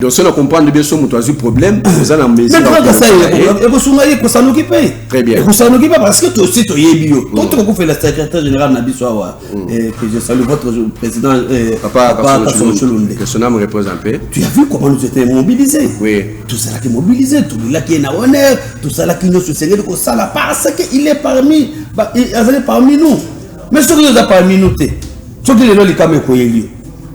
donc soki na comprendre bien so moto azwi problème oza na mesureekosunga ye ekosanuki mpe très bien ekosanuki mpe parce que tosi toyebi yo to tokokufela secrétaire général na biso awa que je salue votre président papakasolosolonde que son âme repose un peu tu as vu comment nous étions mobilisés oui tozalaki mobilisés tolulaki ye na honneur tosalaki nyonso esengeli kosala parce que il est parmi azali parmi nous mais soki oza parmi nous te soki lelo likama ekoyeli yo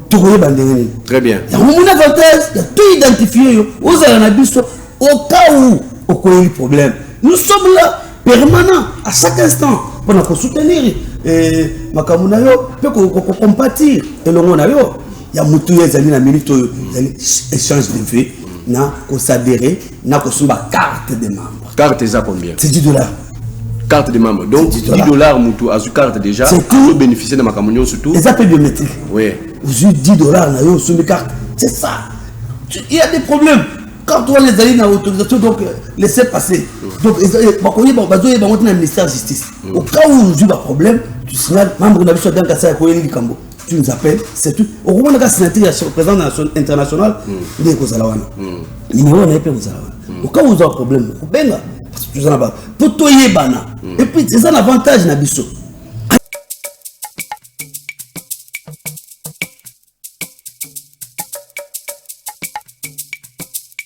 tokoyeba ndenge nini très bien yango mona avantage ya to identifie yo ozala na biso au cas où okoyeli problème nous sommes là permanent à chaque instant mpona kosoutenir eh, makambo na yo mpe kokompatir elongo na yo ya motu oyo ezali na minute oyo ezali échange de vie na kosadere na kosomba carte de membre carte eza combien c'est 10 dollars carte de membre donc 10 dollars mutu azwi carte déjà azobénéficie na makambo nyonso tout eza mpe biométrique oui ozwi 10 dollars na yo osombi carte c'est ça il y a des problèmes quand wana ezali na autorisation donc euh, laisser passer donc bakoyeba bazoyeba yango te na ministère ya justice au cas où ozwi baproblème tu signale membre na biso ya dankasa ya koyeli likambo tu nous appelles c'est tout okomona ka signature ya président international hmm. nde ekozala wana hmm. numéro na ye mpe ekozala wana hmm. oka ozwa problème okobenga toza na ba mpo toyebana epuis eza na avantage na biso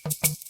Thank you.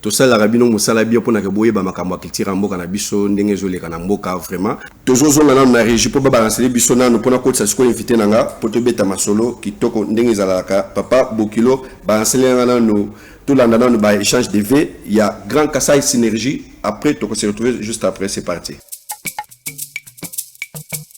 Tosalelaka bino musala bien pona ke boyeba makambo ya culture ya mboka na biso ndenge ezo leka na mboka vraiment. Tozo zonga nanu na regie po ba balancele biso nanu pona kotisa sikoyo invite na nga po tobeta masolo kitoko ndenge ezalalaka papa bokilo balancele yanga nanu tolanda nanu ba echange de vue ya grand kasai synergie après toko se retrouver juste après c'est parti.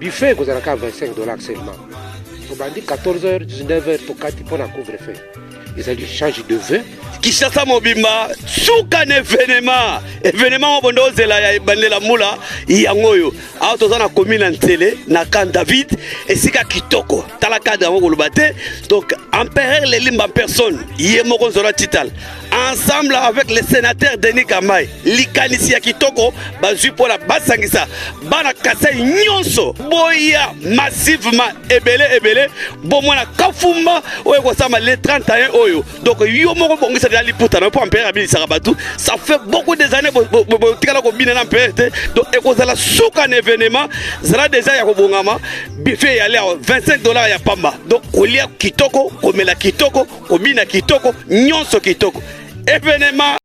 Buffet ekozala kaka 25 dollars seulement. Tobandi 14h 19h tokati mpo na couvre feu. Ezali change de vœux. Kinshasa mobimba suka na evenema evenema moko bonde ozela ya ebandela mbula yango oyo awa toza na komi na nsele na camp david esika kitoko tala cadre yango koloba te donc empereur lelimba personne ye moko nzola tital ensemble avec le sénateur Denis Kamay likanisi ya kitoko bazwi mpo na basangisa bana kasai nyonso boya massivement ebele ebele bomona kafumba oyo ekosama le 31 oyo donc yo moko bongisa deja liputa na yo mpo ampere abilisaka bato ça fait beaucoup des années botikala kobina na ampere te donc ekozala suka na événement zala deja ya kobongama bife eyali awa 25 dollars ya pamba donc kolia kitoko komela kitoko Kobina kitoko, nyonso kitoko. Evenema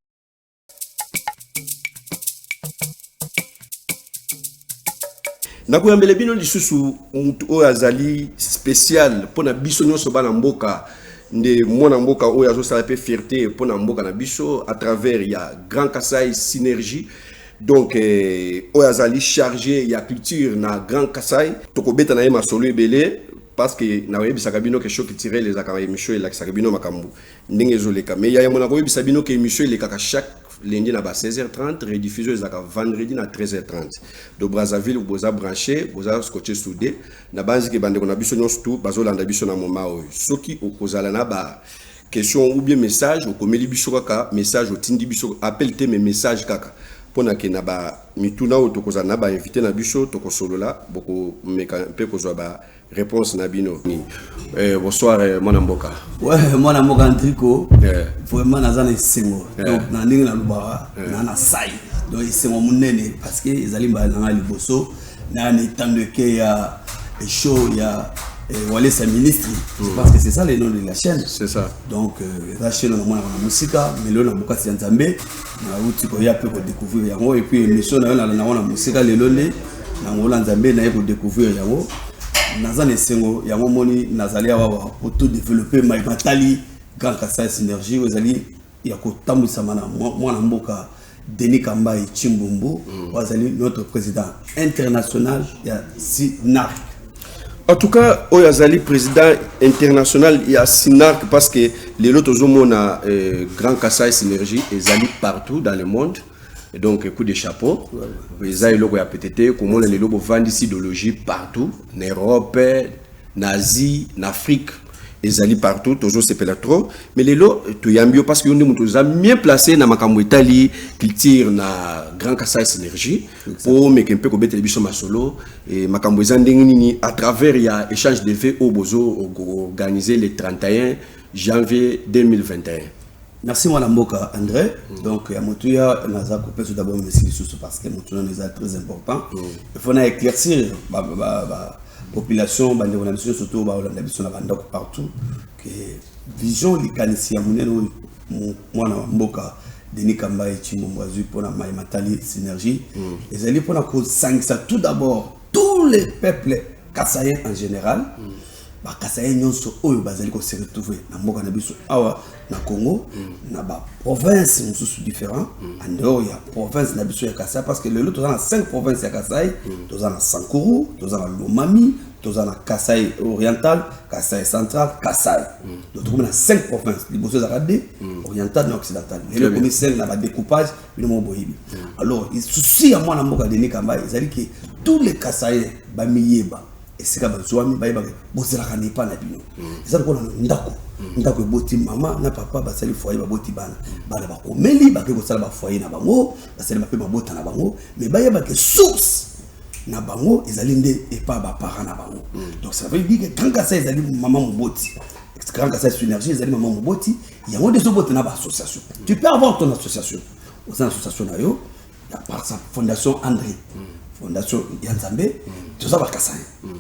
nakoyambela bino lisusu motu oyo azali spécial mpo na biso nyonso bana mboka nde mwana mboka oyo azosala mpe fierté mpo na mboka na biso à travers ya grand kasai synergie donc eh, oyo azali chargé ya culture na grand kasai tokobeta na ye masolo ebele parce que na oyebisaka bino que choc tirel ezaka emission elakisaka bino makambo ndenge ezoleka mais ya yango nakoyebisa bino que emission elekaka chaque lundi na ba 16h30 rediffusion ezalaka vendredi na 13h30 de brazzaville boza branché boza scotché soudé nabanzi ke bandeko na biso nyonso tu bazolanda biso na moma oyo soki okozala na ba Question ou bien message okomeli biso kaka message otindi biso appel te mais message kaka pona ke na ba mituna oyo tokozala na ba invite na biso tokosolola bokomeka mpe kozwa ba réponse na bino eh, bonsoir eh, mwana mboka ouais, mwana mboka ntriko eh. vraiment naza na esengo eh. donc na ndenge nalobaka eh. na na sai donc esengo monene parce que ezali mbala na ngai liboso na n'etando eke ya show ya eh, walesa ministry je mm. pense que c'est ça le nom de la chaîne c'est ça donc euh, eza chaîne na mwana na mosika melo na bokasi ya nzambe nauti koya mpe kodécouvrir yango et puis émission na yo na nango na mosika lelo nde na ngola nzambe naye kodécouvrir yango naza na esengo yango moni nazali awawa oto développe mai matali grand kasai synergie oyo ezali ya kotambwisama na mwana mboka Denis Kambayi Chimbumbu mm. azali notre président international ya SINARC. En tout cas, oyo azali président international ya SINARC parce que lelo tozomona euh, Grand Kassai Synergie ezali partout dans le monde. donc coup de chapeau eza eloko ya pete te komona lelo bovandisi idéologie partout na europe na Asie, na Afrique ezali partout tozo sepela trop mais lelo toyambi yo parce que yo nde moto oza mieux placé na makambo etali culture na grand kasai synergie mpo omeke mpe kobetela biso masolo e, makambo eza ndenge nini à travers ya échange de vie oyo bozo organiser le 31 janvier 2021 Merci mwana mboka André. Mm. Donc ya motuya naza kopesa d'abord merci lisusu parce que motuya eza très important. Mm. Il faut na éclaircir ba ba ba, ba population bandeko na biso nyonso to baolanda biso na bandako partout que vision likanisi ya monene oyo mwana wa mboka denis kambaye cimbombo azwi mpo na mai matali synergie mm. ezali mpo na kosangisa tout d'abord tous les peuples kasayen en général mm. ba Kasaïens nyonso oyo bazali ko se retrouver na mboka na biso awa na Congo mm. na ba provinces mosusu différents mm. en dehors ya province na biso ya Kasaï parce que lelo toza na 5 provinces ya Kasaï mm. toza na Sankuru toza na Lomami toza na Kasaï oriental Kasaï central Kasaï mm. donc tokomi na 5 provinces liboso ezalaka de mm. oriental na occidental lelo ekomi 5 na ba découpage bino moko boyebi mm. alors souci ya mwana mboka Denis Kamba ezali que tous les Kasaïens bamiyeba esika bazwami bayebaka bozalaka na epa na bino mm. eza lokola ndako mm. ndako eboti mama na papa basali foye baboti bana mm. bana bakomeli bakoki kosala bafoye na bango basali bape babota na bango me bayebake source na bango ezali nde epa baparent na bango donc ça veut dire que grand kasa ezali mama moboti grand kasa synergie ezali mama moboti yango nde ezobota na baassociation tu peux avoir ton association oza na association na yo ya parsa fondation andre fondation ya nzambe toza bakasai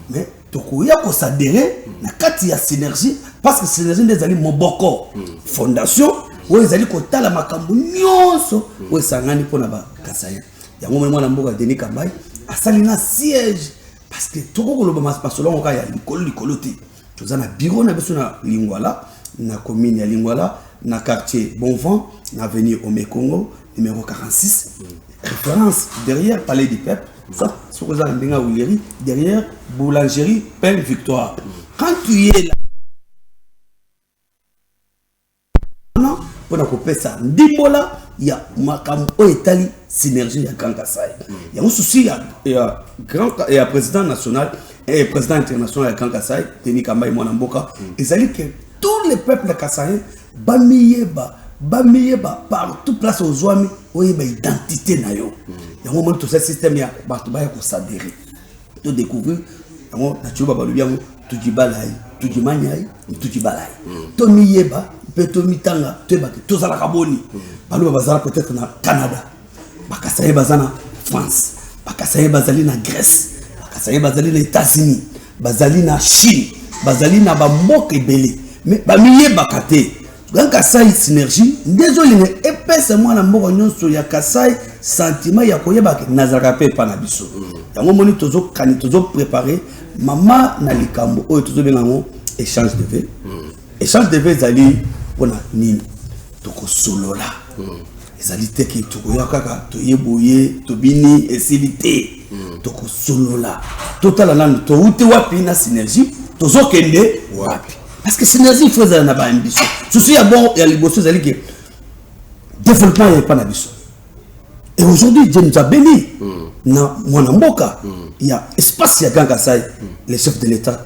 mais tokoya kosadere na kati ya synergie parce que synergie nde ezali moboko fondation oyo ezali kotala makambo nyonso oyo esangani mpo na bakasai yango moni mwana mboka denis kambai asali na siège parce que tokoki koloba masolo yango kaka ya likolo likolo te toza na biro na biso na lingwala na commune ya lingwala na quartier bon vent na avenue omekongo Numéro 46, référence derrière Palais du Peuple, ça, ce que ça, derrière Boulangerie Pelle Victoire. Quand tu es là, mpona kopesa ndimbola ya makambo oyo etali synergie ya grand kasai yango susi ya, ya, grand, ya président national et eh, président international ya grand kasai denis kambai mwana mboka mm. ezali ke tous les peuples kasaien Bamiyeba, bamiyeba partout place ozuami oyeba identite na yo. Yango omoni tosali système ya bato baya ko s'adherer. To decouvrir yango na Tshiluba balobi yango Tujibalai, Tujimanyai, Tujibalai. Tomiyeba mpe tomitanga toyeba ke tozalaka boni. Baluba bazala peut-etre na Canada. Bakasaye baza na France, bakasaye bazali na Grèce, bakasaye bazali na États-Unis, bazali na Chine, bazali na bamboka ebele me bamiyebaka te grand kasai synergie nde ezolinga epesa mwana mboka nyonso ya kasai sentiment ya koyebaka nazalaka mpe epa na biso yango moni tozokani tozoprepare mama na likambo oyo tozobenga yango échange de vie Echange de vues ezali mpona nini tokosolola hmm. ezali te ke tokoya kaka toye boye tobini esili te hmm. tokosolola totala nanu touti wapi na synergie tozokende wapi parce que synergie ifo ezala na baambition susu ya bon ya liboso ezali ke développement ya epa na biso et aujourd'hui je nous abeli hmm. na mwana mboka ya espace ya gankasai le chef de l'état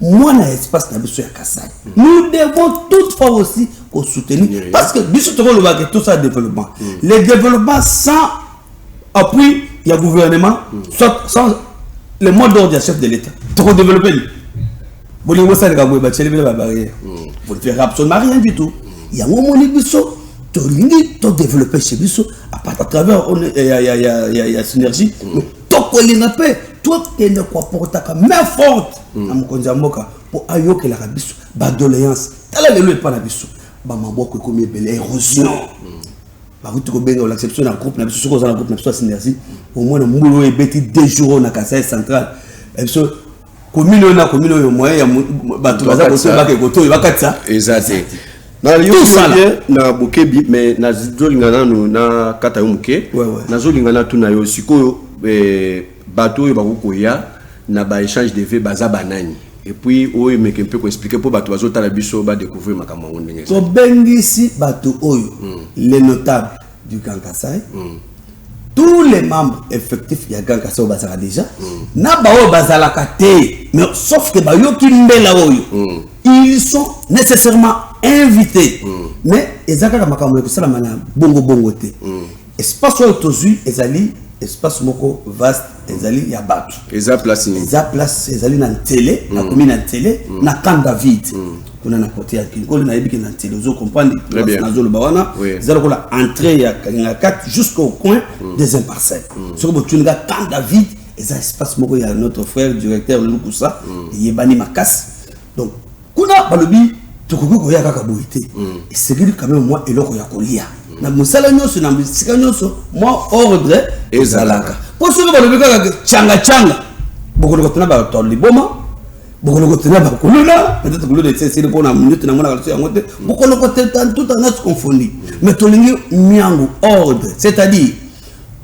mwana ya espace na biso ya kasai mm. nous devons toute fois aussi kosoutenir oui. parce que biso tokolobaka tout ça développement mm. le développement sans appui ya gouvernement mm. soit sans le mot d'ordre ya chef de l'état tokodéveloppe nini bolingi bosaleka boye batieli bino babarrière vous ne verrez absolument rien du tout yango omoni biso tolingi todéveloppe chez biso à travers ya synergie tokolinga mpe tokende koaportaka main forte hmm. na mokonzi ya mboka mpo ayokelaka biso badoléance tala lelo epa na biso bamaboko ekomi ebele érosion hmm. bakuti kobenga olakisa biso na groupe na biso soki oza na groupe na biso ya synergie omona mbulu oyo ebeti deux jours oyo na kasai central eh, biso komini oyo na komini oyo moyen ya bato baza kotoyo bake kotoyo bakatisa eza te nayoye na bokebi mais nazolinga nano nakata yo moke nazolinga natuna yo sikoyo eh, bato oyo bakoki koya na baéchange de vie baza banani epuis oyo emeke mpe koexplike mpo bato bazotala biso badécouvrir makambo yango ndenge tobengisi bato oyo hmm. le notable du Grand Kassai mm. tous les membres effectifs ya Grand Kassai bazalaka déjà mm. na baoyo bazalaka te mais sauf que bayoki mbela oyo mm. ils sont nécessairement invités mm. mais eza kaka makambo ya kosalama na bongo bongo te mm. espace oyo tozwi ezali espace moko vaste ezali ya bato eza place eza place ezali na ntele mm. nakomi na ntele mm. na camp david mm. kuna na kote ya kinkoli nayebi ke na ntele ozo comprendre nazoloba wana eza lokola entrée ya kalinga 4 jusqu'au coin mm. des imparcelles mm. soki botuni nga temps david eza espace moko ya notre frère directeur lukusa mm. eyebani makasi donc kuna balobi tokoki koya kaka boye te esengeli quand même mwa eloko ya kolia na mosala nyonso na bisika nyonso mwa ordre ezalaka mpo soki balobi kaka canga canga bokolokotuna bato liboma bokolokota na bakuluna peut-être kuluna esesili mpo na minute na monaka liso yango te bokolokota tout en notre confondi mais tolingi miango ordre c'est-à-dire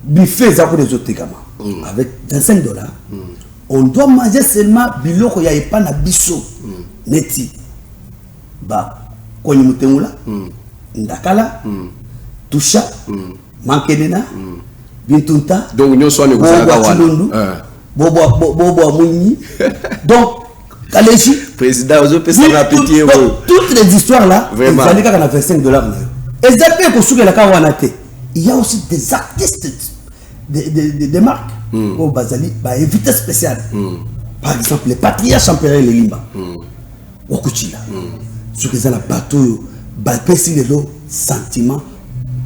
buffet eza kuna ezotekama mm. avec 25 dollars mm. on doit manger seulement biloko ya epa na biso mm. neti bakonyi motengola ndakala tusha Mankenena, mm. Bintunta, donc nyonso wana ekozalaka wana eh. bobwa bobwa mwinyi donc kaleji président ozopesa na pitie oyo toutes les histoires là ezali kaka na 25 dollars na yo eza mpe ekosukela kaka wana te il y a aussi des artistes de, de, de, de marque mm. oyo bazali bainvité spécial mm. par exemple le patriarche empereur lelimba mm. Wakuchila soki eza na bato oyo bapesi lelo sentiment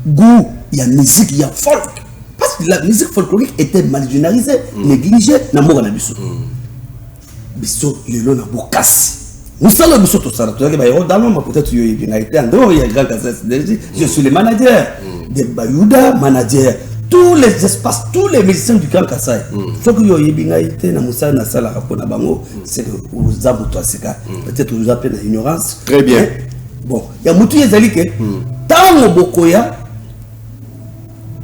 goût ya musique ya folk parce que la musique folklorique était mal généralisée mm. négligée na mboka na biso mm. biso lelo na bokasi mosala biso tosala toyaki bayero daloma peut-être yo oyebi ngai te andor ya grand casas je suis le manager mm. de bayuda manager tous les espaces tous les musiciens du grand kasai soki yo oyebi ngai te na mosala nasalaka mpo na bango c'est que oza moto ya sika hmm. peut-être oza mpe na ignorance très bien eh, bon ya motu ye ezali ke ntango hmm. bokoya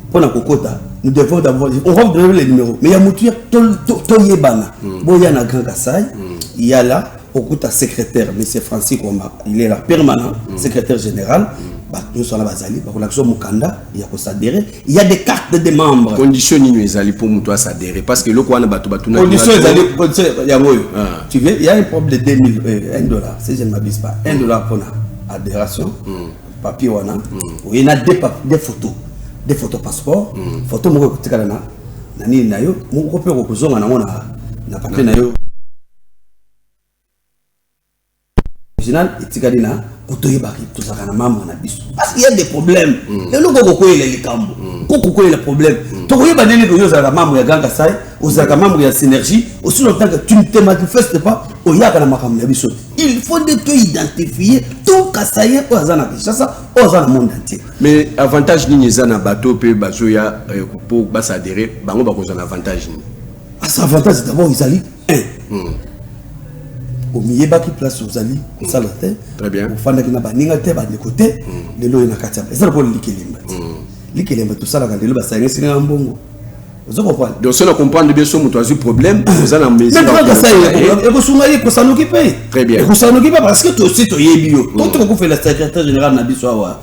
mpo na kokota nous devons d'abord on va vous donner les numéros mais ya motu ya toyebana hmm. boya na grand kasai yala okuta secrétaire monsieur francis komba il est là permanent secrétaire général bato nyonso wana bazali bakolakisa mokanda ya kosadere Il y a des cartes de membres. Condition nini ezali pour mutu à s'adhérer parce que loko wana batu batu na Condition ezali condition ya ngoyo. Ah. Tu veux il y a un problème de 2000 euh, 1 dollar si je ne m'abuse pas. 1 dollar pour la adhération. Hmm. Papier wana. Hmm. Il y a deux papiers, des photos. Des photos passeport, hmm. photo moko kotikala na na nini na yo, moko pe ko kozonga na ngona na papier na yo. original etikali na kotoyebaka tozalaka na mambre na biso parce qu'il y a des problèmes mm. lelo koko koyela likambo mm. koko koyela problème mm. tokoyeba ndenge koyo ozalaka mambre ya ganga sai ozalaka membre ya synergie aussi longtemps que tu ne te manifestes pas oyaka na makambo na biso il faut nde to identifier tout kasayen oyo aza na kinshasa oyo aza na monde entier mais avantage nini eza na bato mpe bazoya mpo euh, basadere bango bakozwa na avantage nini asa ah, avantage d'abord ezali eh. hmm. omiyebaki place ozali kosala te ofandaki na baninga te bandeko te hmm. lelo oyo na kati ya eza lokola likelemba te hmm. likelemba tosalaka lelo basangisi na mbongo ozo comprendre donc soki na comprendre bien so moto azwi problème ah. oza na mesureekosunga ye ekosanuki mpe très bien ekosanuki mpe parce que tosi toyebi yo po tokokufela secrétaire général na biso awa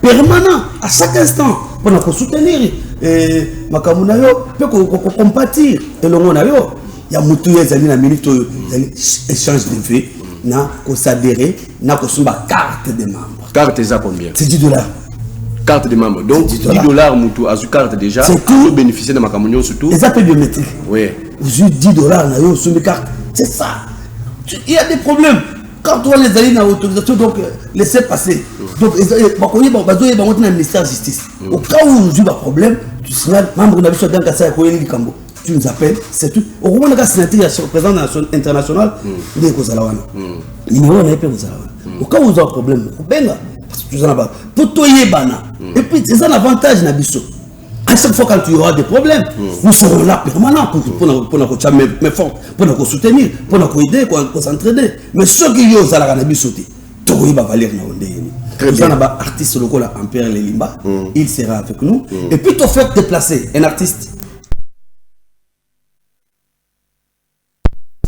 permanent à chaque instant pour nous soutenir eh, makambo na yo mpe kocompatir elongo na yo ya motu ya ezali na minute oyo ezali échange de vie na kosadere na kosomba carte de membre carte eza combien c'est 10 dollars carte de membre donc 10 dollars motu azwi carte déjà azobénéficie na makambo nyonso tout eza mpe biométrique oui ozwi 10 dollars na yo osombi carte c'est ça il y a des problèmes carte wana ezali na autorisation donc laisse passer donc bakoyeba bazoyeba yango ntina ya ministère ya justice mm. au cas où ozwi baproblème tu signale membre na biso adankasa ya koyeli likambo tu nous appelles c'est tout okomonaka signature ya président international mm. nde ekozala wana mm. nimero na ye mpe ekozala wana au cas où ozwa problème okobenga toza na bato mpo toyebana epuis eza na avantage na biso à chaque fois quand tu auras des problèmes mm. nous serons là permanent pour mm. pona pona ko tcha mais fort pona ko soutenir pona ko aider ko ko s'entraider mais ceux qui yo zala kana biso te to ko ba valeur na onde ni très bien ba artiste lokola empire les limba mm. il sera avec nous mm. et puis to faire déplacer un artiste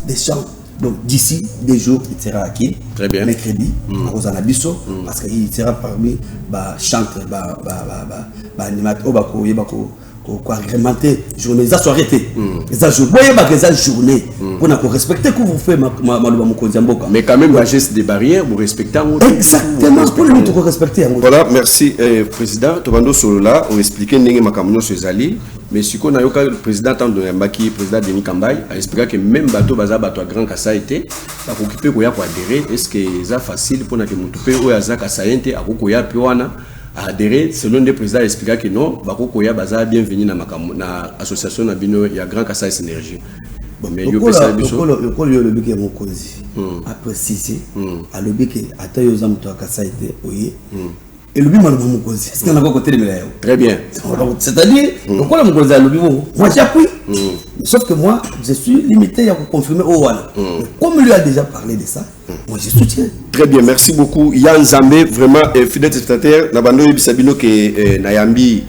des champs donc d'ici deux jours il sera acquis très bien mercredi mm. akozala na biso mm. parce que il sera parmi ba chantre ba ba ba ba, ba animateur oyo bakoyeba ko koagremente journée eza soirée te mm. eza jour boyebaka eza journée mpona mm. korespecte couvre-feu maloba mokonzi ya mboka mais quand même la geste de barrière borespecte yango exactement mpona nini tokorespecte yango voilà merci eh, président tobandi osolola oexplike ndenge makambo nyonso ezali Mais siko na yoka président tant de Mbaki président Denis Kambay a expliqué que même bateau baza bateau à grand Kassai était ba ko kipe ko ya ko adhérer est-ce que ça facile pour na que mutu pe oya za Kassai était a ko ya pe wana a adhérer selon le président a expliqué que non ba ko ya baza bienvenue na makambo na association na bino ya grand Kassai synergie bon mais yo pe ça biso le col yo le bique mon cause a préciser a le bique ata yo za mutu à Kassai était oye elobi maloba mokonzi esika nakoki kotelemela yango très bien c'est-à-dire hmm. lokola mokonzi alobi bongo moi j'appuie hmm. sauf que moi je suis limité ya koconfirme oyo wana hmm. comme lui a déjà parlé de ça moi je soutiens très bien merci beaucoup ya nzambe vraiment eh, fidèle spectateur na bando oyebisa bino ke eh, nayambi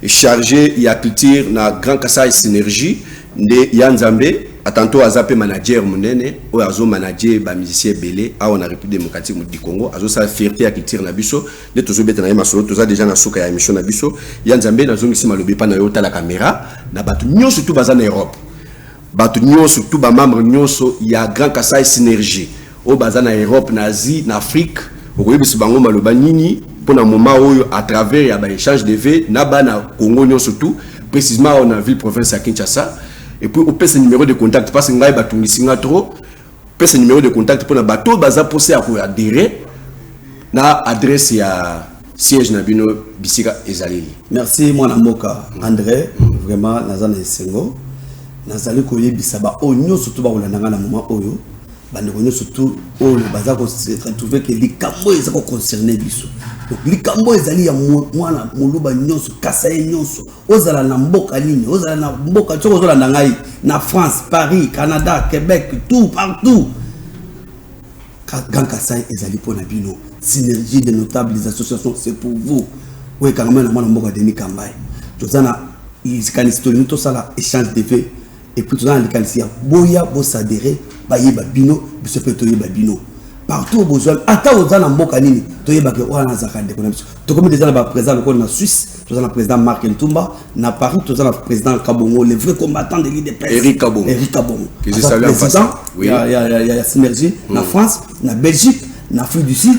chargé ya culture na grand kasai synergie Nde ya nzambe atanto aza pe manager munene oyo azo manager ba musicien ebele awa na République démocratique du Congo azo sala fierté ya culture na biso nde tozo beta na ye masolo toza déjà na suka ya émission na biso ya nzambe nazongisi malobi epa na yo otala kamera na bato nyonso tu baza na Europe bato nyonso tu ba membre nyonso ya Grand Kasaï synergie Oyo baza na Europe, na Asie, na Afrique, okoyebisa bango maloba nini pona moment oyo à travers ya ba echange de vues na bana Congo nionso tout precisement awa na ville province ya Kinshasa et puis opesa numero de contact parce ngai batungisi nga trop pesa numero de contact pona bato oyo baza posa ya ko adhérer na adresse ya siège na bino bisika ezali. Merci mwana mboka André, vraiment naza na esengo nazali koyebisa ba oyo nionso to bakolanda nga na moment oyo bandeko nyonso tu oyo baza koretrouve ke likambo oyo eza koconcerne biso donc likambo oyo ezali ya mwana moluba nyonso kasa ye nyonso ozala na mboka nini ozala na mboka soki ozolanda ngai na france paris canada québec tout partout grand kasai ezali mpo na bino synergie de notable des associations c'est pour vous oyo ekangama na mwana mboka denis kambai toza na likanisi tolingi tosala échange de vie Et puis toza na likanisi ya boya bo s'adherer bayeba bino biso pe toyeba bino partout bozwami ata oza na mboka nini toyebake wana azalaka ndeko na biso tokomi deja na baprésident lokola na suisse toza na président mark ntumba na paris toza na président kabongo le vrai combattant de lideperic kabongo président ya synergie na hmm. france na belgique na afrique du sud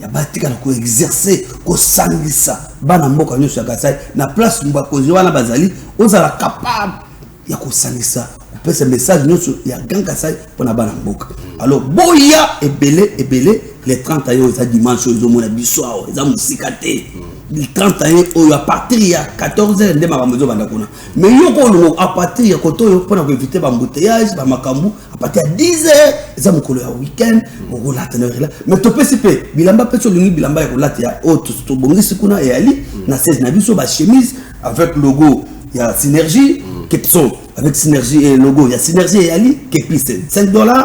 ya batikala ko exercer kosangisa bana mboka nyonso ya kasai na place bakonzi wana bazali ozala capable ya kosangisa kopesa message nyonso ya grand kasai mpona bana mboka alors boya ebele ebele le 30 ayo eza dimanche oyo ezomona biso awa eza mosika te le 30 aye oyo apartir ya 14 heure nde makambo ezobanda kuna mais yoko olongo apartir ya koto oyo mpona koevite bambouteillage bamakambo à partir ya 10 heures eza mokolo ya weekend okolata na rela mais topesi mpe bilamba mpe solingi bilamba ya kolata ya oyo tobongisi kuna eyali na 16 na biso bachemise avec logo ya synergie kepso avec synergie et logo ya synergie eyali kepise 5 dollars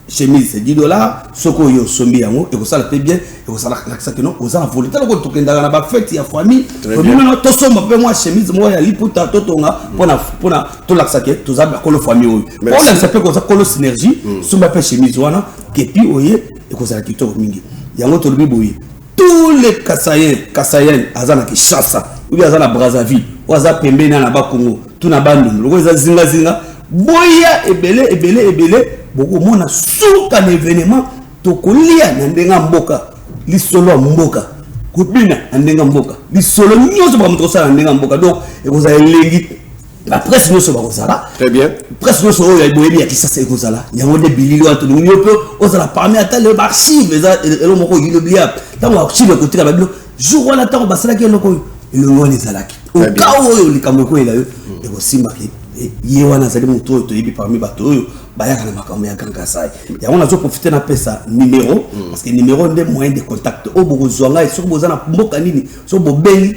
chemise 10 dollars soko oyo osombi yango ekosala mpe bien ekosalakisa kino oza na volonté loko tokendaka na bafete ya famille tobimana tosomba mpe mwa chemise moko ya liputa totonga mpona tolakisa ke toza bakolo famille oyo olakisa mpe koza kolo synergie hmm. somba mpe chemise wana kepi oye ekozala kitoko mingi yango tolobi boye tous les kasayen kasayen aza na kinshasa oyo aza na brazzaville oyo aza pembeni na bakongo to na bandundu lokola eza zingazinga boya ebele ebele ebele bokomona suka na evenement tokolia na ndenge ya mboka lisolo ya mboka kobina na ndenge ya mboka lisolo nyonso bamoto kosala na ndenge ya mboka donc ekozala elengi ba presse nyoso bakozala très bien presse nyoso oyo ya boyebi ya kisasa ekozala yango nde bilili wana tolingi yo mpe ozala parmi ata le archive eza elo moko oyilobia ntango archive ekotika babilo jour wana ntango basalaki eloko oyo elongo wana ezalaki okao oyo likambo ekoyela yo mm. ekosimbaki eh, ye wana azali motu oyo toyebi parmi bato oyo bayaka na makambo ya grand kasai yango nazo profite napesa numero mm. parce que numero nde moyen de contact oyo bokozwa ngai soki boza na mboka nini soki bobengi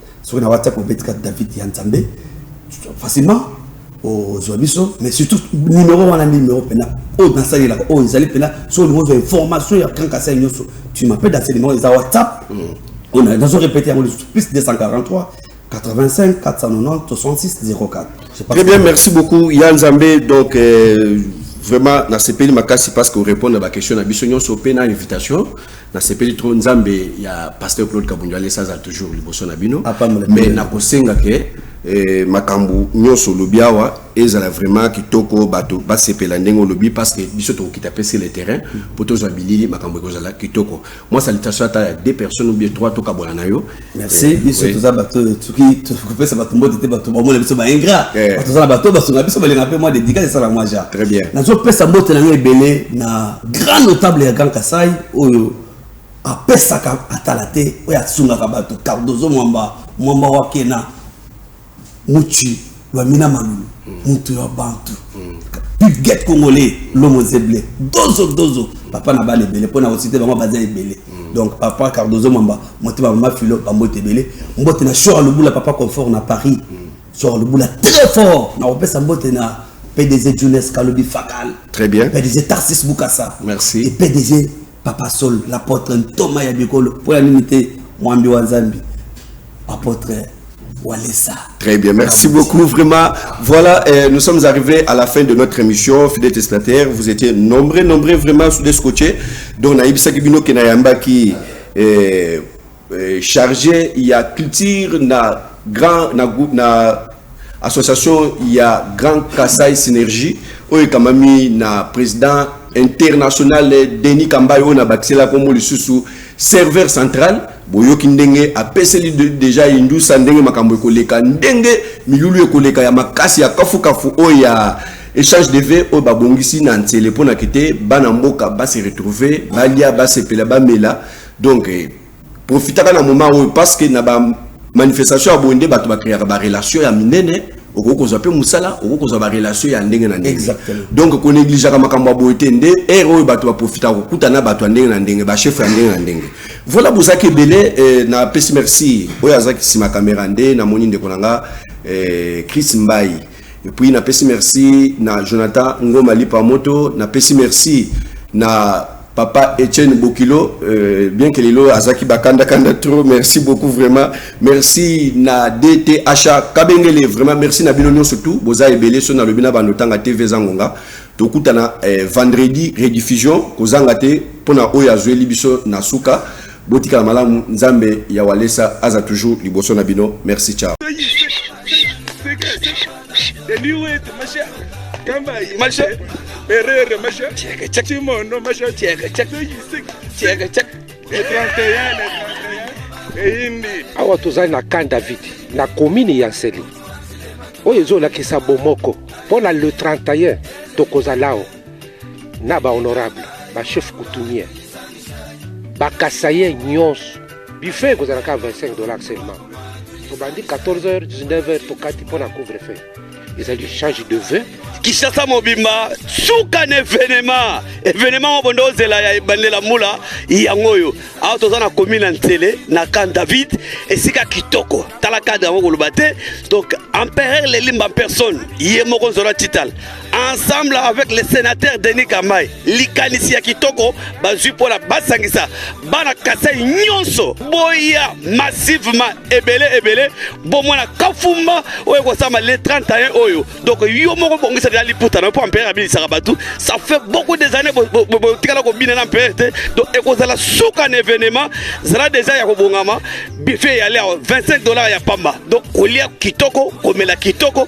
soki na whatsapp obeti kati david ya nzambe facilement ozwa biso mais surtout numéro wana nde numéro mpena oyo nasalelaka oyo ezali mpena soki olingi ozwa information ya kankasai nyonso tu m'appelle dans ce numéro eza whatsapp oyo na- nazo répéter yango lisusu plus 243 85 490 66 04 Je pense Très bien, que- merci beaucoup. Yann Zambé, donc euh, vraiment, na sepeli makasi parce que répondre à la question na biso nyonso pe na invitation. Nasepeli trop nzambe ya pasteur Claude Kabundu alesa azala toujours liboso na bino mais nakosenga ke eh, makambo nyonso olobi awa ezala vraiment kitoko bato basepela ndenge olobi parce que biso tokokita mpe sur le terrain mpo tozwa bilili makambo ekozala kitoko mwa salitation ata ya deux personnes ou bien trois tokabwana na yo merci eh, biso toza bato oyo soki tokopesa bato mbote te bato bamona biso baingra eh. toza na bato basunga biso balinga mpe mwa dedikase esala mwa ja nazopesa mbote na ngai ebele na grand notable ya grand kasai oyo apesaka atala te oyo asungaka bato cardozo mwamba mwamba wakena Muchi Lwamina Malulu mutu ya bantu Pipget Congolais Lomo Zeble Dozo Dozo papa na bana ebele mpo na kosite bango baza ebele donc papa Cardozo Mwamba motema mama Filo bambote ebele mbote na Shora Lubula papa confort na Paris Shora Lubula très fort na kopesa mbote na PDG Junes Kalobi Fakal très bien PDG Tarsis Bukasa merci et PDG Papa Sol, l'apotre Ntoma ya bikolo, mpo ya nini te mwambi wa Nzambi, apotre Walesa. Très bien, merci beaucoup. Vraiment, voilà, euh, nous sommes arrivés à la fin de notre émission. Fidèle Testataire, vous étiez nombreux, nombreux vraiment sous des scotchés. Donc, Naïb Sakibino Kenayamba qui. Euh, eh, charge ya culture na grand na, na association ya grand kasai synergie oyo ekamami na président international denis kambai oyo nabakisela nkombo lisusu serveur central boyoki ndenge apeseli deja indusa ndenge makambo ekoleka ndenge milulu ekoleka ya makasi ya kafukafu oyo ya échange de vie oyo babongisi na nsele mpo na kete bana mboka base retrouve balia basepela bamela Donc eh, profitaka na moment oyo parce que na ba manifestation ya boye nde bato bakreaka barelation ya minene okoki kozwa mpe mosala okoki kozwa barelation ya ndenge na ndenge donc konegligeaka makambo ya boye te nde ere oyo bato baprofitaka kokuta na bato ya ndenge na ndenge bachefre ya ndenge na ndenge voilà bozalaki ebele eh, na pesi merci oyo azalaki nsima kamera nde namoni ndeko na nga eh, chris mbai Et puis na pesi merci na Jonathan Ngoma Lipa Moto, na pesi merci na Papa Etienne Bokilo, euh, bien que Lilo Azaki Bakanda Kanda trop, merci beaucoup vraiment. Merci na DTHA Kabengele, vraiment merci na Bino surtout, Boza Ebele, Sona Lobina Banotanga TV Zangonga. Tokutana eh, vendredi rediffusion kozanga te pona oyo azueli biso na suka Botikala malamu nzambe ya walesa aza toujours liboso na bino merci ciao Herrera, mas eu tinha que tinha que mono, mas eu tinha que tinha que tinha que tinha que awa tozali na camp david na komini ya nsele oyo ezolakisa bomoko mpo na le 31 tokozala awa na bahonorable bachef coutumier bakasaye nyonso buffet ekozala kaka 25 dollars seulement obandi 14 heures 19 heures tokati mpo na couvre feu ezali change de vin kinshasa mobimba suka na evenema evenema moko bonde ozela ya ebandela mbula yango oyo awa toza na komi na nsele na camp david esika kitoko tala cadre yango koloba te donc empereur lelimba en personne ye moko nzola tital ensemble avec le sénateur Denis Kamay likanisi ya kitoko bazwi mpo na basangisa bana kasai nyonso boya massivement ebele ebele bomona kafumba oyo ekosama le 31 oyo donc yo moko bongisa deja liputa na yo mpo ampere abilisaka bato ça fait beaucoup des années botikala kobina na ampere te donc ekozala suka na événement zala deja ya kobongama bife eyali awa 25 dollars ya pamba donc kolia kitoko komela kitoko